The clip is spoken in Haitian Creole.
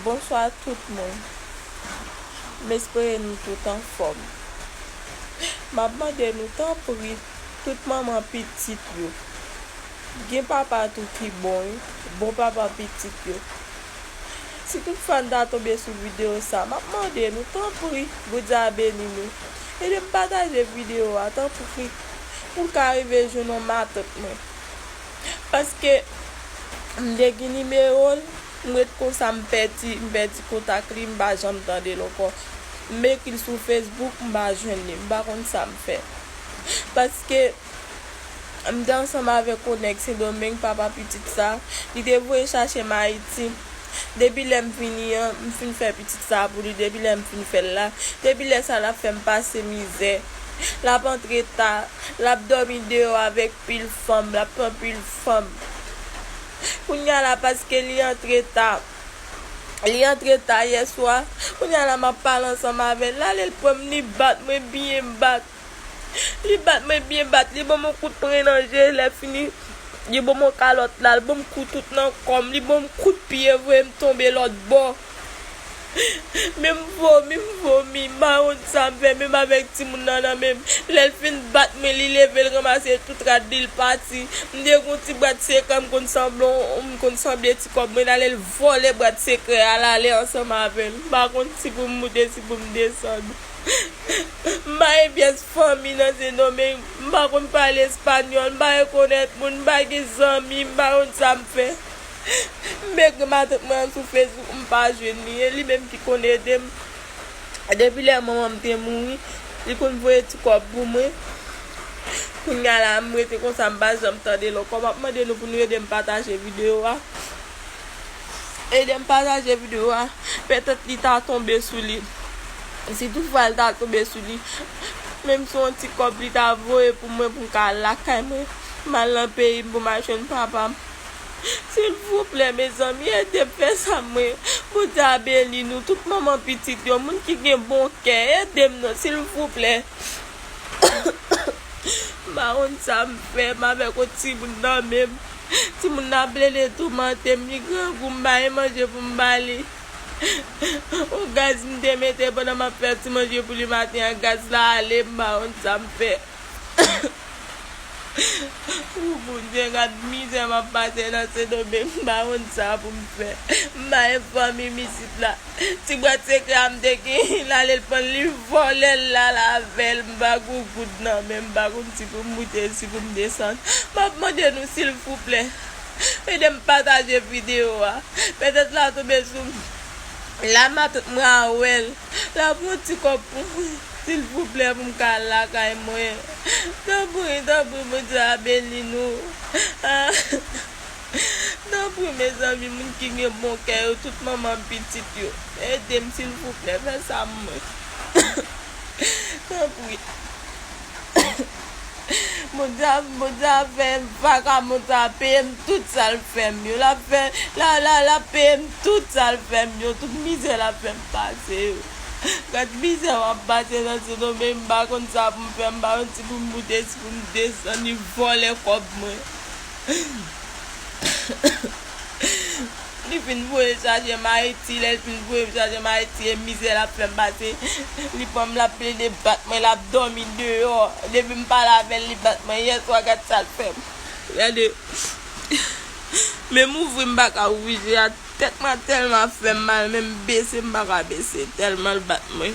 Bonswa tout moun m espere nou tout anfòm map mande nou tanpri tout manman pitit yo gen papa tou ki bon wi bon papa pitit yo si tout fwa nou ta tonbe sou video sa map mande nou tanpri bondye a beni nou edem pataje video a tanpri poun ka rive jwenn yon matant mwen. Paske m te gen nimewo l, m ret konsa m pèdi, m pèdi kontak li, m pa janm tande l ankò. M ekri l sou Facebook, m pa jwenn li, m pa konn sa m fè. Paske m te ansanm avèk yon nèg Sendomeng, papa pitit sa, li te voye chache m Ayiti. Depi lè m vini an, m fin fè pitit sa pou li, depi lè m fin fè l la, depi lè sa l ap fè m pase mizè. lap antre ta, lap dòmi deyò avèk pil fanm, lap pran pil fanm. Kounya la paske li antre ta, li antre ta yèswa, kounya la map pale ansanm avèl, lale l pranm li bat mwen byen bat, li bat mwen byen bat, li banm yon kout pren nan je, lè fini li banm yon kalòt la, l banm kou tout nan kòm, li banm kout pye voyem tonbe lòtbò. Menm vomi m vomi, mawont sa m fè menm avèk timoun nan nan menm. Lè l fin bat mwen li leve l ranmase tout rad li l pati. M te gen yon ti bwat sekrè m konn sanble m konn sanble ti kòb mwen ale l vòlè bwat sekrè a l ale ansanm avè l. M pa konn si pou m moute si pou m desann. M pa gen pyès fanmi nan Sendomeng, m pa konn pale espanyòl, m pa rekonèt moun, m pa gen zanmi, m mawont sa m fè. Mèg matant mwen an sou Facebook m pa jwenn li e li menm ki konn ede m depi lè manman m te mouri li konn voye ti kòb pou mwen kounya la m rete konsa m pa janm tande l ankò m ap mande nou pou nou ede m pataje videyo a ede m pataje videyo a petèt li ta tonbe sou li si tout fwa l ta tonbe sou li menm si yon ti kòb li ta voye pou mwen pou m ka al lakay mwen m al nan peyi m pou m al jwenn papa m. Silvouplè mezanmi edem fè sa mwen Bondye a beni nou tout manman pitit yo moun ki gen bon kè edem non silvouplè m pa konn sa m fè m avèk yon timoun nan menm timoun nan ap plede toumante m li grangou m ba li manje pou m ba li yon gaz m te mete pandan m ap fè ti manje pou li maten an gaz la ale m pa konn sa m fè. Ooh Bondye gad mizè map pase nan sendomeng m pa konn sa poum fè m bay fanmim isit la ti bwat sekrè a m te genyen l ale l pranl li vòlèl l al avèl m pa gon goud nan menm m pa konn si poum moute si poum desann map mande nou silvouplè edem pataje video a pètèt la tonbe sou m la map m ka wèl lap yon ti kòb pou mwen. Silvouplè pou m ka al lakay mwen tanpri tanpri bondye a beni nou tanpri mezanmi moun ki gen bon kè yo tout manman pitit yo edem silvouplè fè sa pou mwen tanpri bondye ap fè vakabon sa peyem tout sal fèm yo lap peyem tout sal fèm yo tout mizè lap fèm pase yo. Gad mizè wap pase nan sodo men m pa konn sa pou m fè m pa konn si pou m moute si pou m desann li vòlè kòb mwen li fin voye chaje m ayiti lè l fin voye m chaje m ayiti e mizè lap fè m pase li pran m lap plede bat mwen lap dòmi deyò depi m pale avè l li bat mwen yèswa gad sa l fè m gade menm ouvri m pa ka ouvri je a. Tèt mwen tèlman ap fèm mal menm bese m paka bese tèlman l bat mwen.